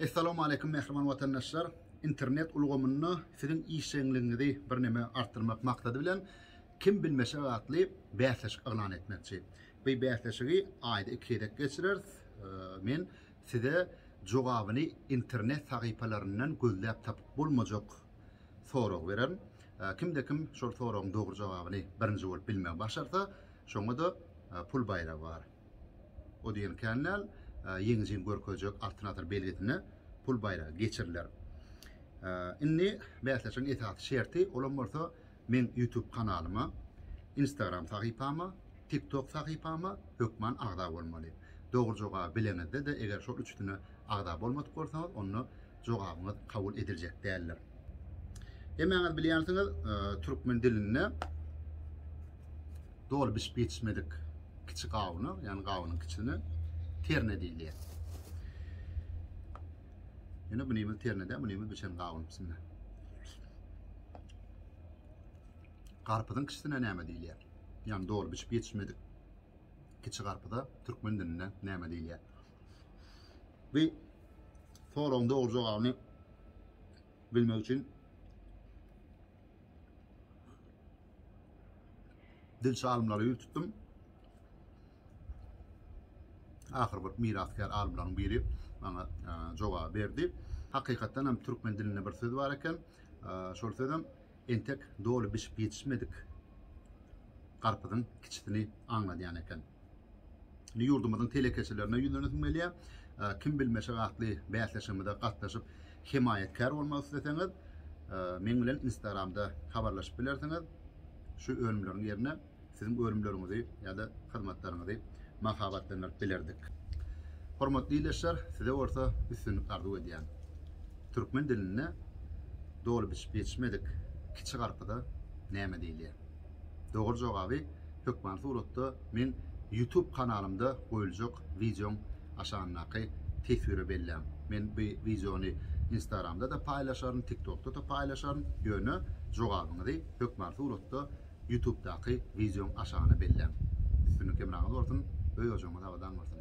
Essalamu Aleýkum mähriban watandaşlar! Internet ulgamynda siziň işjeňligiňizi birneme artdyrmak maksady bilen Kim bilmeşek atly bäsleşik yglan etmekçi. By bäsleşigi aýda iki gezek geçireris. Men size jogabyny internet sahypalaryndan gözläp tapyp bolmajak soragy bererin. Kimde kim şol soragyň dogry jogabyny birinji bolup bilmegi başarsa, şoňa-da pul baýragy bar. O diýen kän däl, ýeňijini görkezjek Altyn asyr belgisine pul baýragy geçiriler. Indi bäsleşigiň esasy şerti, olam bolsa meň YouTube kanalyma, Instagram sahypama, TikTok sahypama hökman agza bolmaly. Dogry jogaby bileňizde-de eger şol üçüsine agza bolmadyk bolsaňyz, onda jogabyňyz kabul ediljek däldir. Hemmäňiz bilýänsiňiz, e, türkmen dilinde doly bişip ýetişmedik kiçi gawuna, ýani gawunyň kiçini terne diýilýär. Ýöne bu nimiz ternede, bu nimiz biçen gawun içinde. Garpyzyň kiçisine näme diýilýär? Ýani doly bişip ýetişmedik kiçi garpyza türkmen dilinde näme diýilýär? Bu soragyň dogry jogabyny bilmek üçin dilçi alymlara ýüz tutdum. Ahyr bir mirasgär alymlaryň biri maňa e, jogap berdi. Hakykatdan hem türkmen dilinde bir söz bar eken. E, şol sözem Entek doly bişip ýetişmedik garpyzyň kiçisini aňladýan eken. Indi ýurdumyzyň telekeçilerine ýüzlenesiň gelýär. Kim bilmeşek atly bäsleşigimize gatnaşyp, hemaýatkär bolmak isleseňiz, meň bilen Instagramda habarlaşyp bilersiňiz. Şu önümleriň ýerine Siziň önümleriňizi ýa-da hyzmatlaryňyzy mahabatlandyryp bilerdik. Hormatly ildeşler, size bolsa üstünlik arzuw edýän. Türkmen dilinde doly bişip ýetişmedik kiçi garpyza näme diýilýär? Dogry jogaby hökmany suratda meň YouTube kanalymda goýuljak wideoň aşagyndaky teswire belläň. Men bu wideony Instagramda-da paýlaşaryn, TikTokda-da paýlaşaryn, ýöne jogabyňyzy hökmany suratda Ýutubdaky wideoň aşagyna belläň. Üstünlik hemraňyz bolsun, öý-ojagyňyz abadan bolsun!